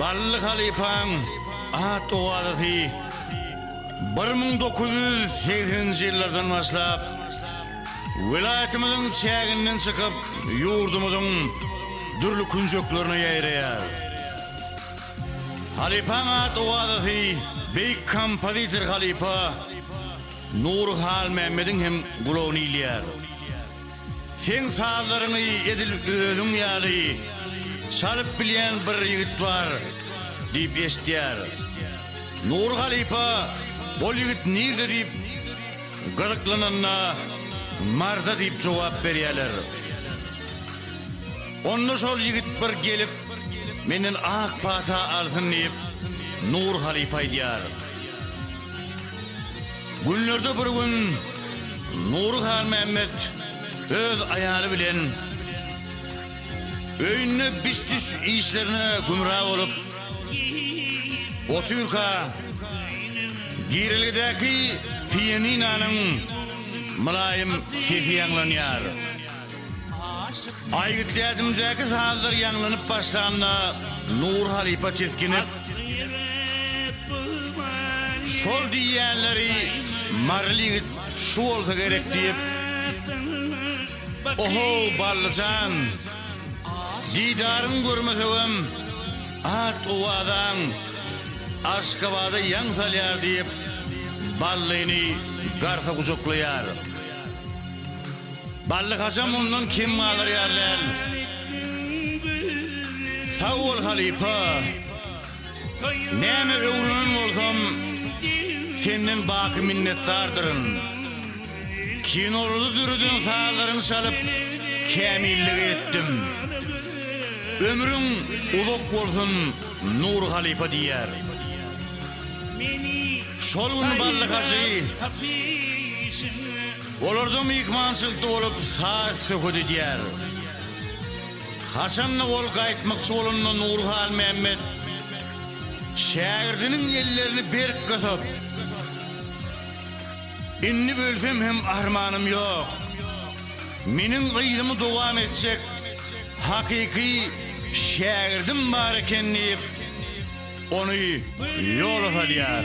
Bally halypaň at owazasy bir müň dokuz ýüz segseninji ýyllardan başlap, welaýatymyzyň çäginden çykyp, ýurdumyzyň dürli künjeklerine ýaýraýar. Halypaň at owazasy beýik kompozitor halypa. Nury Halmämmediň hem gulagyny ilýär. Seň sazlaryňy edil özüň ýaly çalyp bilýän bir ýigit bar diýip eşitýär. Nury halypa ol ýigit nirde diýip gyzyklananda Marsda diýip jogap berýärler. Onda şol ýigit bir gelip menden ak pata alsyn diýip Nury halypa aýdýar. Günlerde bir gün Nury Halmämmet öz aýaly bilen öýünde biş-düş işlerine gümra bolup otyrka, girelgedäki pianinanyň mylaýym sesi ýaňlanýar. Aýgyt dädimdäki sazlar ýaňlanyp başlanda, Nur halypa tisginip, Şol diýýänleri maryly ýigit şu bolsa gerek diýip, Oho, Bally jan, didaryňy görmesegem, at-owazaň Aşgabada ýaň salýar diýip, Ballyny garsa gujaklaýar. Bally Haja mundan kim galar ýaly däl. Sag bol halypa. Näme öwrenen bolsam senden baky minnetdardyryn. Kinolary düreden sazlaryňy çalyp kämillige ýetdim. Ömrüň uzak bolsun Nury halypa diýýär. Şol gün Bally Hajy. Olarda myhmançylykda bolup saz-söhbet edýär. Haçan-da ol gaýtmakçy bolanda Nury Halmämmet şägirdiniň ellerini berk gysyp, Indi ölsem hem armanym ýok. Meniň yzymy dowam etjek hakyky şägirdim bar eken diýip, ony ýola salýar.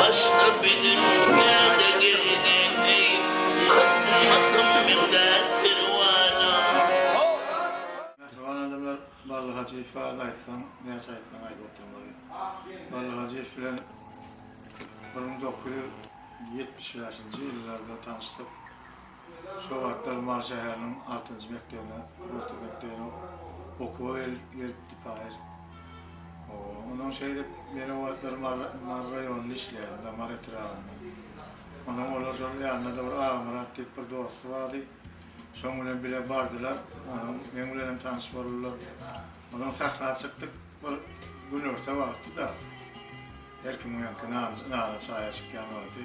Başga biziň näde geldik eý, Gatnasym men däl perwana. Mähriban adamlar Bally Hajyýew barada aýtsaň näçe aýtsaň az oturmaly. Bally Hajyýew bilen bir müň dokuz ýüz ýetmiş bäşinji ýyllarda tanyşdyk. Şol wagtlar Mary şäheriniň altynjy mekdebine, orta mekdebine okuwa gelipdi Paýyr. Onsoň şeýdip, men o wagtlar Mary raýonynda işleýärdim da, Mary etrabynda. Onsoň olar şol ýanynda-da bir Agamyrat diýip bir dosty bardy. Şoň bilen bile bardylar. Onsoň meň bilenem tanyş boldular. Onsoň sähra çykdyk. Bir günorta wagtydy-da. Her kimiňki nana-çaýa çykýan wagty.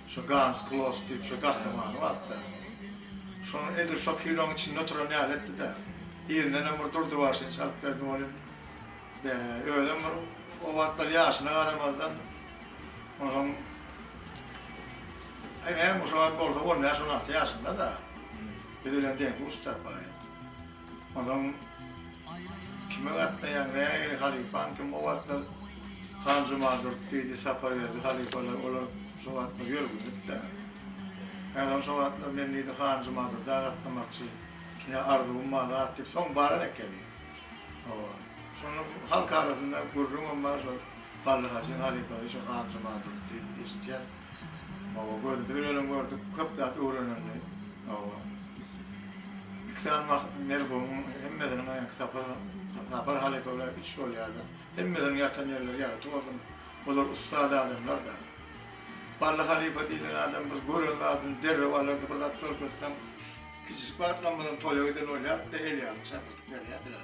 Şo Gans Kloss diýip şo gahrymany bardy-da. Şonuň edil şo kinoň içinde oturan ýaly etdi-de. Yzyndanam bir durdy başyny çalyp berdi welin, be, özem bir o wagtlar ýaşyna garamazdan, onuň hem-ä şo wagt bolsa on bäş-on alty ýaşynda-da. Biz bilen deň-duş-da, baý. Onuň Kime gatnaýaň, nähili halypaň kim o wagtlar Hanjuma Durt diýdi, Saparberdi halypalar olar şo wagtlar ýörgünlik-dä. Häzirem şo wagtlar men diýdi Hanjuma Durda gatnamakçy, şuny arzuwym bar zat diýip soň baran ekeni. Hawa. Şonuň halk arasynda gürrüňem bar şo Bally Hajyň halypasy şo Hanjuma Durt diýip eşitýäs. Oba gördük, dünelem gördük, köp zat öwrenildi. Oba. Üç sany bak, merhumun hemmesiniň aýak sapar, sapar halypa bilen üç bolýardy. Hemmesiniň ýatan ýerleri ýagty gördüm. Olar ussat adamlar da. Bally halypa diýlen adam bir gören zadyny derrew alardy, bir zat görkezseň, kiçijik wagtdan bilen toýa giden bolýardy-da, el ýaly çapyrdyp berýärdiler.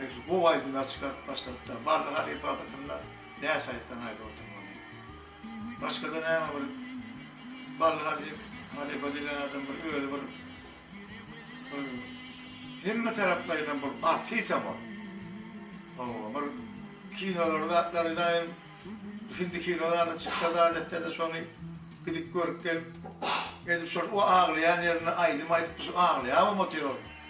Eýsem gowy aýdymlar çykaryp başladypdyr. Bally halypa hakytynda näçe aýtsaň aýdyp oturmaly. Başgada näme bir Bally hajy halypa diýlen adam bir özi bir hemme taraplaýynam bir artisem ol. Hawa bir kinolary zatlary daýym hindi kino zady çyksa zat etse-de şony gidip görüp gelip edip şol o aglaýan ýerinde aýdym aýdyp şu aglaýabam otyr ol.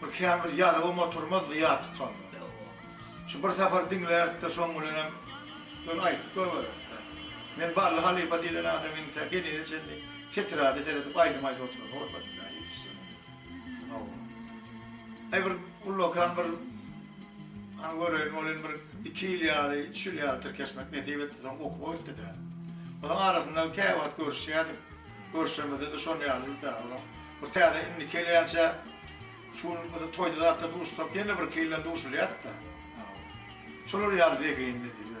Bu käbir ýazygym oturmaz zyýa tutanda. Şu bir sapar diňlärik-de, şoň bilenem ýöne aýdyp goýbereris-dä. Men Bally halypa diýlen adam entek henize çenli tetrada seredip aýdym aýdyp oturany görmedim-dä, ýetişjegem ýok. Hawa. Aý bir ullakan bir Hany göreýin, ol indi bir iki ýyl ýaly, üç ýyl ýaly tirkeşmek nesip etdi, soň okuwa gitdi-dä. Olaň arasynda käwagt görüşýärdik. Görşemizde-de şon ýalydy-dä. Bir täze indi kelýänçä şu gün bizi toýda zatda duşsak ýene birki ýyldan duşulýat-da. Şolar ýaly zehin dedi özüne.